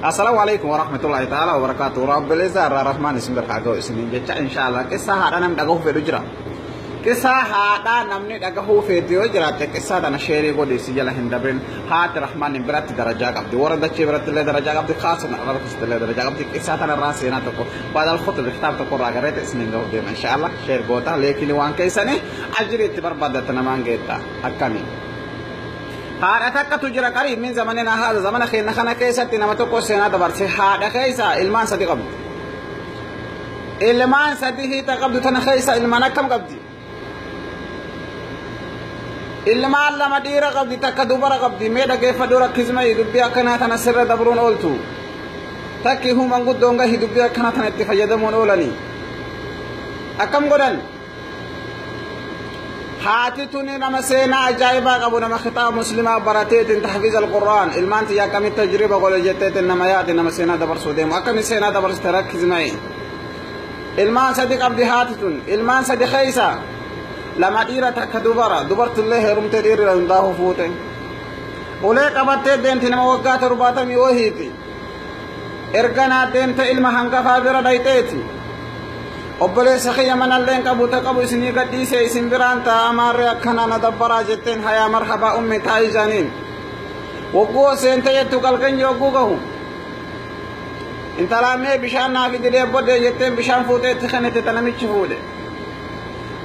Assalamu alaikum wa rahmatullahi ta'ala wa barakatuh. Rabbil Izzaa irraa Rahmaan isin birraa ga'u isiniin jecha inshallah qissaa haadha namni dhagahuu fedhu jira. Qissaa haadha namni dhagahuu fedhu yoo jiraatte qissaa tana sheerii godhi si jala hin dabrin haati Rahmaan hin biratti darajaa qabdi. Warra dachee biratti illee darajaa qabdi kaasuma irra keessatti illee darajaa qabdi. Qissaa tana irraa seenaa tokko baadal khutu biftaaf tokko irraa gareete isiniin ga'u deema inshallah sheer goota leekini waan keessanii ajiri itti barbaaddattu namaan geetta akkamiin. Haadha takkatu jira qariib min zamanina haadha zamana keenya kana keessatti nama tokko seenaa dabarse haadha keessa ilmaan sadi qabdu. Ilmaan sadi hiita qabdu tana keessa ilmaan akkam qabdi? Ilmaan lama dhiira qabdi takka dubara qabdi mee dhaggeeffadhu rakkisma dubbii akkanaa tana sirra dabruun ooltu. Takki human guddoon gahi dubbii akkanaa tana itti fayyadamuun oolanii. Akkam godhan? haati tuni nama seenaa ajaa'ibaa qabu nama kitaaba muslimaa barateetiin tahfiiz alqur'aan ilmaan tiyya akkamitti tajriba godhe jetteetiin nama yaade nama seenaa dabarsuu deemu akkami seenaa dabarsite rakkisma'e ilmaan sadi qabdi haati tun ilmaan sadi keeysa lama dhiira takka dubara dubartillee heerumtee dhiirri hundaa'uu fuute ulee qabattee deemti nama waggaa torbaatamii wahiiti erga naa deemte ilma hangafaa bira dhayxeeti obboleessa kiyya manalleen qabu ta qabu isinii gadhiise isin biraan taa'a maarree akkana na dabbaraa jetteen hayaa marhabaa ummi taa'i jaaniin wagguu ol seente jettu galganyi wagguu gahu intalaan mee bishaan naa fididee bodde jetteen bishaan fuutee itti kennite ta namichi fuudhe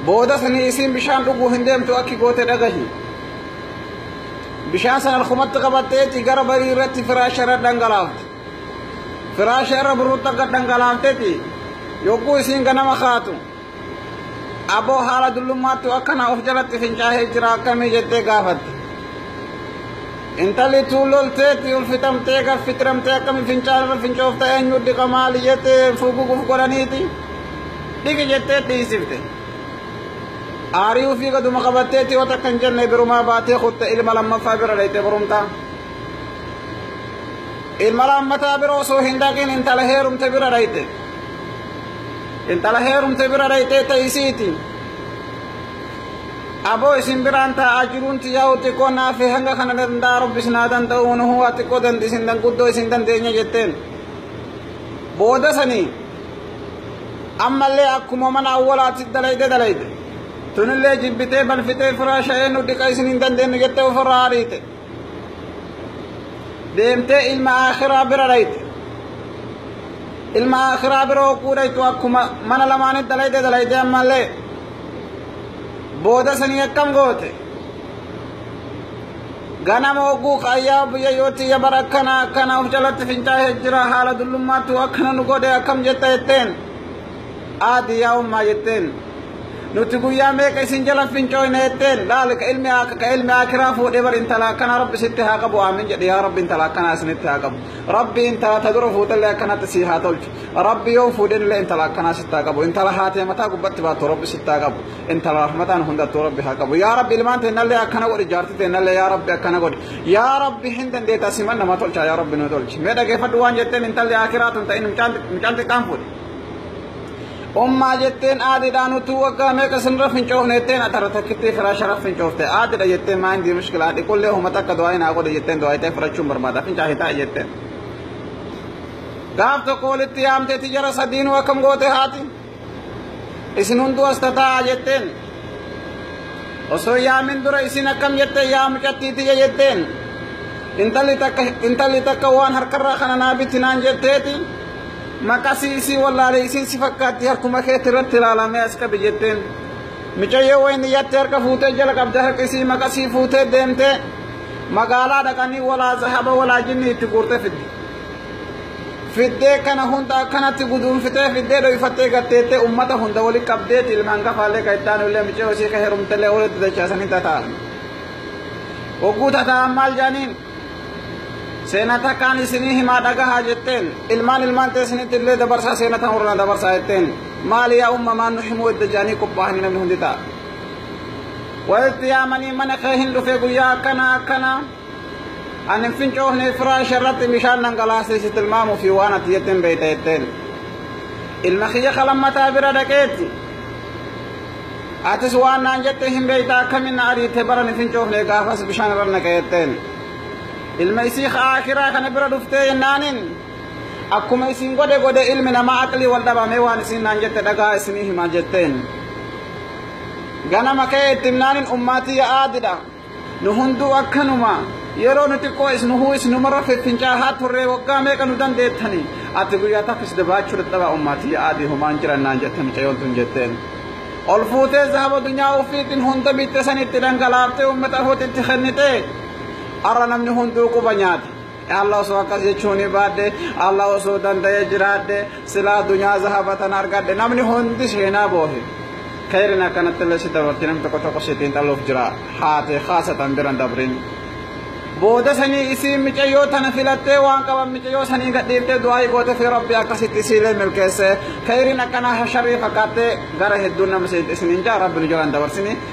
boodas ni isiin bishaan dhuguu hin deemtu akki goote dhagahi Bishaan sana alkumatti qabatteetti gara barii irratti firaasha irra dhangalaafte. Firaasha irra burruutti akka dhangalaaftetti yogguu isiin ganama kaatu aboo haala dullummaatti akkana of jalatti fincaa'ee jira akkamii jettee gaafatte. Intalli tuun lolteetti ulfitamtee gaffitiramtee akkamii fincaan irra fincoofta eenyu dhiqa maali jettee fuguguuf godhaniiti dhiqi jettee dhiisifte. Aarii ofii gaduma qabatteetti yoo takka hin jenne birumaa baatee kutte ilma lammaffaa bira dhayxee borumtaa. Ilma lammataa bira osoo hin dhaqin intala heerumte bira dhayxe. Intala heerumte bira dhayxee ta'isiiti. Aboo isin biraan taa'aa jiruun tiyyaa xiqqoo naaf hanga kana danda'a rabbis naa danda'u nu huwa xiqqoo dandeessin danguddoo isin dandeenya jetteen. Booda sanii ammallee akkuma mana awwalaatti dalayde dalayde tunillee jibbitee balfitee firaa sha'ee nu dhiqa isin hin dandeenyu jettee ofirraa ariite deemtee ilma akhiraa bira dhayte ilma akhiraa bira hogguu dhaytu akkuma mana lamaanitti dalayde dalayde ammallee booda sanii akkam goote Ganama hogguu kaayyaa biyya yoo tiyya bara akkana akkana of jalatti fincaa'ee jira haala dullummaattu akkana nu godhe akkam jetta jetteen. Aadi yaa ummaa jetteen. Nuti guyyaa meeqa isin jala fincooyne jetteen laali ka ilmi akka ka ilmi akiraa fuudhee bar intala akkana rabbi sitti haa qabu aamin jedhe yaa rabbi intala akkana isinitti haa qabu. Rabbi intala ta dura fuutellee akkanatti sii haa tolchu. Rabbi yoo fuudhenillee intala akkana sitti haa qabu. Intala haatee mataa gubbatti baattu rabbi sitti haa qabu. inta rahmataan hundattuu rabbi haa qabu yaa rabbi ilmaan teennallee akkana godhi jaarti teennallee yaa rabbi akkana godhi yaa rabbi hin dandeetta siman nama tolchaa yaa rabbi nu tolchi mee dhageeffadhu waan jetteen intalli akiraa tun ta'in mucaan xiqqaan fuudhe ummaa jetteen aadiidhaan utuu waggaa meeqa sinirra fincoofne jetteen atara takkittii firaa sharaf fincoofte aadidha jetteen maa hindi mushkilaa dhiqullee huma takka du'aa hin haa godhe jetteen du'aa itee fudhachuun barbaada fincaa hitaa jetteen gaaf tokko walitti yaamtee tijara sadiinuu akkam goote haati isin hunduu as tataa'a jetteen osoo yaamin dura isin akkam jette yaa mucattii tiyya jetteen intalli takka intalli takka waan harkarraa kana naa bitti naan jetteeti maqasii isii wallaale isin si fakkaatti harkuma keetti irratti ilaalamee as qabi jetteen micayyoo wayni yatti harka fuutee jala qabde harka isii maqasii fuutee deemtee magaalaa dhaqanii walaa zahaba walaa jinni itti guurte fidde fiddee kana hunda akkanatti guduunfitee fiddee dhoyfattee gatteettee ummata hunda wali qabdee ilmaan gafaallee ka ittaan illee micee hosii ka herumtellee walitti dachaasanii tataan hogguu tataan maal jaaniin seena takkaan isinii himaa dhagahaa jetteen ilmaan ilmaan teessinitti illee dabarsaa seena tan warra dabarsaa jetteen maali yaa ummamaan nu himuu edda jaanii qophaa'anii namni hundi ta'a walitti yaamanii mana kee hin dhufee guyyaa akkana akkana Ani fincoofne firaasha irratti bishaan dhangalaasee si tilmaamuu fi waan ati jetteen beekta jetteen. Ilma kiyya kalammataa bira dhaqeetti. Atis waan naan jette hin beekta akkamiin na ariite bara ni fincoofne gaafas bishaan irra naqe jetteen. Ilma isii aakiraa kana bira dhuftee jennaaniin akkuma isin godhe godhe ilmi namaa aqlii wal dhabamee waan isin naan jette dhagaa isinii hima jetteen. Ganama ka'ee itti himnaaniin ummaatii yaa'aa didha. Nu hunduu akkanuma. Yeroo nu xiqqoo isnuhuu isnumarra fiffincaahaa turree waggaa meeqa nu dandeettani. Ati guyyaa takkis dabaachuu dadhabaa ummaatii aadii homaan jiran naan jette mucayyoon tun jetteen. Ol fuutee zahaba dunyaa ofiitiin hunda bitte san itti dhangalaaftee ummata afuutti itti kennitee. Arra namni hunduu quba nyaate. Allah osoo akkas jechuun baadde Allah osoo danda'ee jiraadde silaa dunyaa zahabatan argadde namni hundi seenaa boohe kayrin akkanatti illee si dabarti namni tokko tokko sitiin dhaluuf jira haate haasatan biran dabrin booda sanii isiin micayyoo tana filattee waan qaban micayyoo sanii gadhiiftee du'aa'ii goote fi rabbi akkasitti isiilee milkeesse kayrin akkanaa hasharrii fakkaattee gara hedduun nama isiniin jaa rabbi nu jalaan dabarsini